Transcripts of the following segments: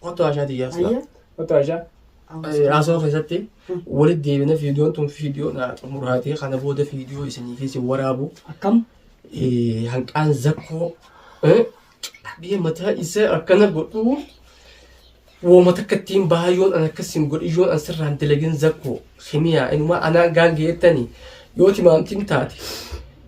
Kottu haashaa tiyyaa silaa. Ayya. Otoo Aishaa. Haasoo keessatti walitti deebina viidiyoon tun viidiyoo naa xumuraatee kana booda viidiyoo isinii fi isin waraabu Akkam. eh, hanqaan zakkoo eh, qabee mataa isaa akkana godhuu wooma takka ittiin baayyoon an akkas hin godhiyyoon an sirraan dalagin zakkoo himiyaa inumaa anaa gaangee jettanii yoo timaamtiin taate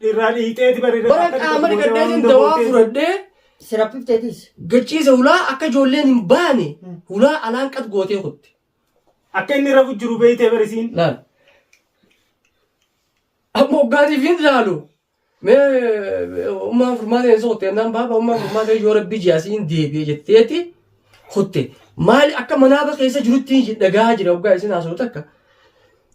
Dhirraa dhiiteeti bari. Bara qaama dhiqadhee jin dawaa fudhadhee Siraphifteetis. gachiise hulaa akka ijoolleen hin baane hulaa alaan qat gootee kutte. Akka inni rafu jiru beeytee barisiin. Laal. Amma hoggaatiif hin laalu. Mee ummaan furmaatee hin soqotte jennaan baaba ummaan furmaatee yoo rabbi ji'asii hin deebi'e jetteeti kutte. Maali akka manaaba keessa jirutti hin dhagaa jira hoggaa isin haasoftu takka.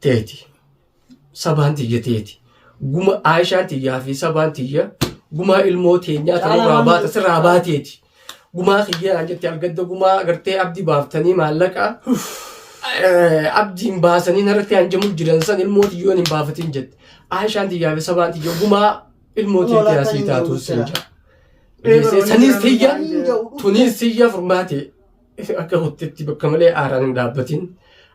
teeti sabaan tiyya teeti guma aayishaan tiyyaa fi sabaan tiyya gumaa ilmoo teenyaa tanurraa baata sirraa baateeti gumaa kiyyanaan jette algadda gumaa agartee abdii baaftanii maallaqa eh, abdiin baasanii narratti hanjamu jiran san ilmoo tiyyoon hin baafatiin jette aayishaan tiyyaa fi sabaan tiyya gumaa ilmoo teetii asii taatu sin jedha. Dhiyeessee saniis tiyya tuniis tiyya furmaate akka kuttetti bakka malee aaraan hin dhaabbatin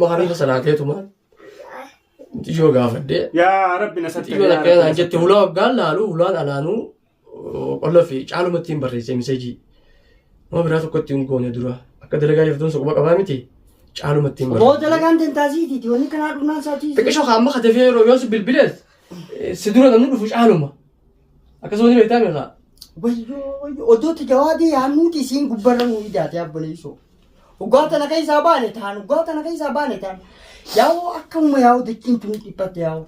Maarifa salaateetuma xiyyoo gaafadhee Yaa rabbi na sattare. xiyyoo takka isaan jette hulaa waggaan laalu hulaan alaanuu qolla fi caaluma ittiin barreessee miseejii nama biraa tokko ittiin goone dura akka dalagaa jirtuun soquma qabaa miti caaluma ittiin Boo barreessee. dalagaan dantaasiitiiti. Wanni kanaa dhumnaan isaatii. Xiqqisho kaamma katafee yeroo yoo si bilbilees si dura namni dhufu caaluma. Akkasuma ni beektaa beekaa. Wayyoo wayyoo odooti jawaadii yaannuuti isiin gubbarra nuu ijaate abboleessoo. Dhugaa tana keessaa baane taan dhugaa tana keessaa baane taan yaa'oo akkamuma yaa'oo dachiin tun dhiphatte yaa'oo.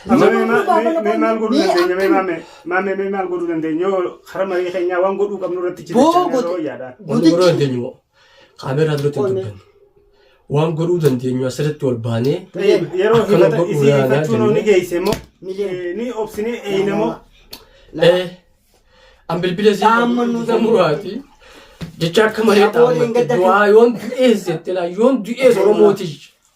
Amma mee ma- mee- mee maal godhuu dandeenya mee maamee maamee mee maal godhuu dandeenya yoo karaa marii keenyaa waan godhuu qabnu irratti Boo jiraachaa godhe. yeroo yaada. Wanni godhuu dandeenyu moo? Kaameeraa duratti hin Qo'ne. dubbanne. Waan godhuu dandeenyu asirratti ol baanee Tayyib, yeroo Akkana himata godhu isii yaanaa hifachuun jennee. ni geeyse immoo Miliyoona. eh, ni obsine eeyne moo Eh, an bilbila isii Dhaamma nu isa muraati. Jecha akka malee Shabooliin dhaammatti. gadda fi- Du'aa yoon du'ees jette laa yoon du'ees Oromooti.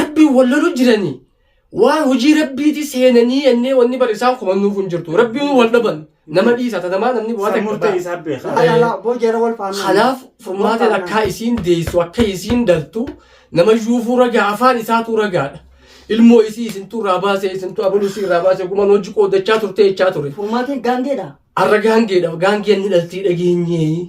Rabbiin wal loluu jiranii waan hojii rabbiiti seenanii jennee wanni bar isaan komannuuf hin jirtu rabbiin wal dhaban nama dhiisa ta namaa namni waa San takka murtee ba'a. isaa beeka. Laa laa laa boo jara wal faannaan. kanaaf Wal furmaatiin faannaan. akkaa isiin deessu akka isiin dhaltu nama yuufuu ragaa afaan isaatu ragaadha ilmoo isii isintu irraa baasee isintu abaluu isii irraa baasee guman hojii qoodachaa turtee jechaa ture Furmaatiin gaangeedha. arra gaangeedha gaangeen ni dhaltii dhageenyee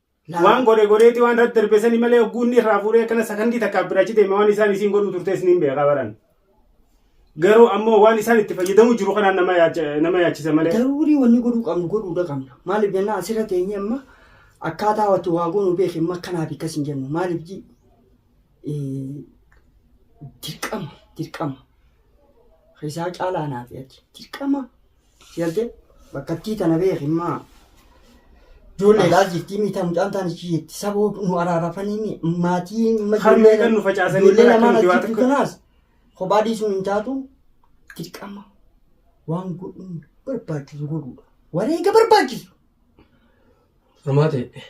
Waan godhe godheeti waan irratti darbe sani malee hogguu inni irraa fuudhee akkana sakandii takkaaf bira achi deeme waan isaan isiin godhuu turte isiniin beekaa baran. Garuu ammoo waan isaan itti fayyadamuu jiru kanaan nama yaacha- nama yaachisa malee. Daruurii wanni godhuu qabnu godhuudha qabna. Maaliif jennaan asirra teenyee amma akkaataa watti waa goonu beeki amma akkanaaf akkas hin jennu. Maaliif ji eh, dirqama dirqama. Isaa caalaa naaf yaaddi. Dirqama Si galtee? Bakkattii tana beeki immaa. Ijoollee alaa jirtii miitaa mucaan taan ichi jirti. Saboo nu araarafanii mi maatii imma Harmee kan nu facaasanii ijoollee bara lamaan akkamitti waa achitti takka- kanaas kophaa dhiisuun hin taatu dirqama waan godhuun barbaachisu godhuudha. Wareega barbaachisu. Dhumaa ta'e.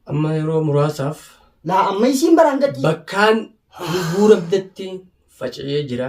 Amma yeroo muraasaaf Laa amma isiin baraan gadhiisa. bakkaan lubuu rabdatti faca'ee jira.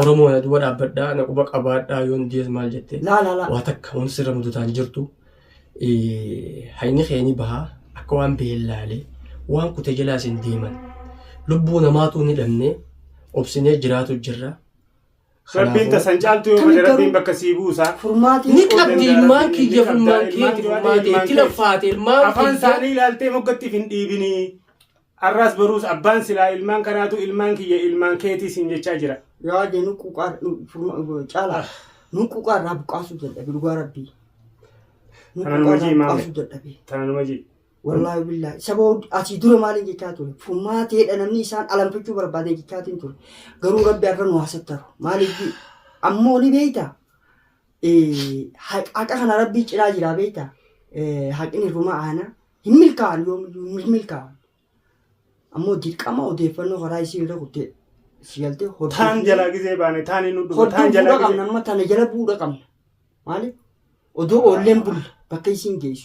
Oromoo na duba dhaabbadhaa na quba qabaadhaa yoon diyees maal jette Laa laa laa. waa takka waan sirra mudataan jirtu eh, hayni keeni bahaa akka waan biheen laalee waan kute jalaa isin deeman lubbuu namaatuu ni dhabne obsinee jiraatu jirra Rabbiin Kanaafuu- tasan caaltu yoo Akkamitti fedhe Rabbiin garuu- bakka sii buusa. Furmaatiin ni qabdi ilmaan kiyya furmaan keeti furmaate itti laffaate ilmaan afaan kiyya isaanii ilaaltee moggattiif hin dhiibinii Arraas boruus abbaan silaa ilmaan kanaatu ilmaan kiyya ilmaan keetii siin jechaa jira. Yaa jee nu quqaa caalaa nu quqaa irraa buqqaasuu dadhabe dhugaa rabbii. Nu Kana quqaa nama irraa jii maame. buqqaasuu dadhabe. Tana nama jii. Wallaahi billaahi saba hud- asii dura maaliin jechaa ture furmaateedha namni isaan alanfachuu barbaadee jechaatiin ture garuu rabbi har'a nu haasattaru maaliif jii ammoo ni beeyta eh, haq- haqa kana rabbii cinaa jiraa beeyta Eh, haqni rumaa aana hin milkaa'an yoomiyyuu hin milkaa'an ammoo dirqama odeeffannoo karaa isii irra kuttee si galtee taan hordofuu jalaa gizee baane taan hin dhuma taan hordofuu jalaa qabna gizee amma tana jala bu'uudha qabna maaliif odoo oolleen bulla bakka isiin geessu.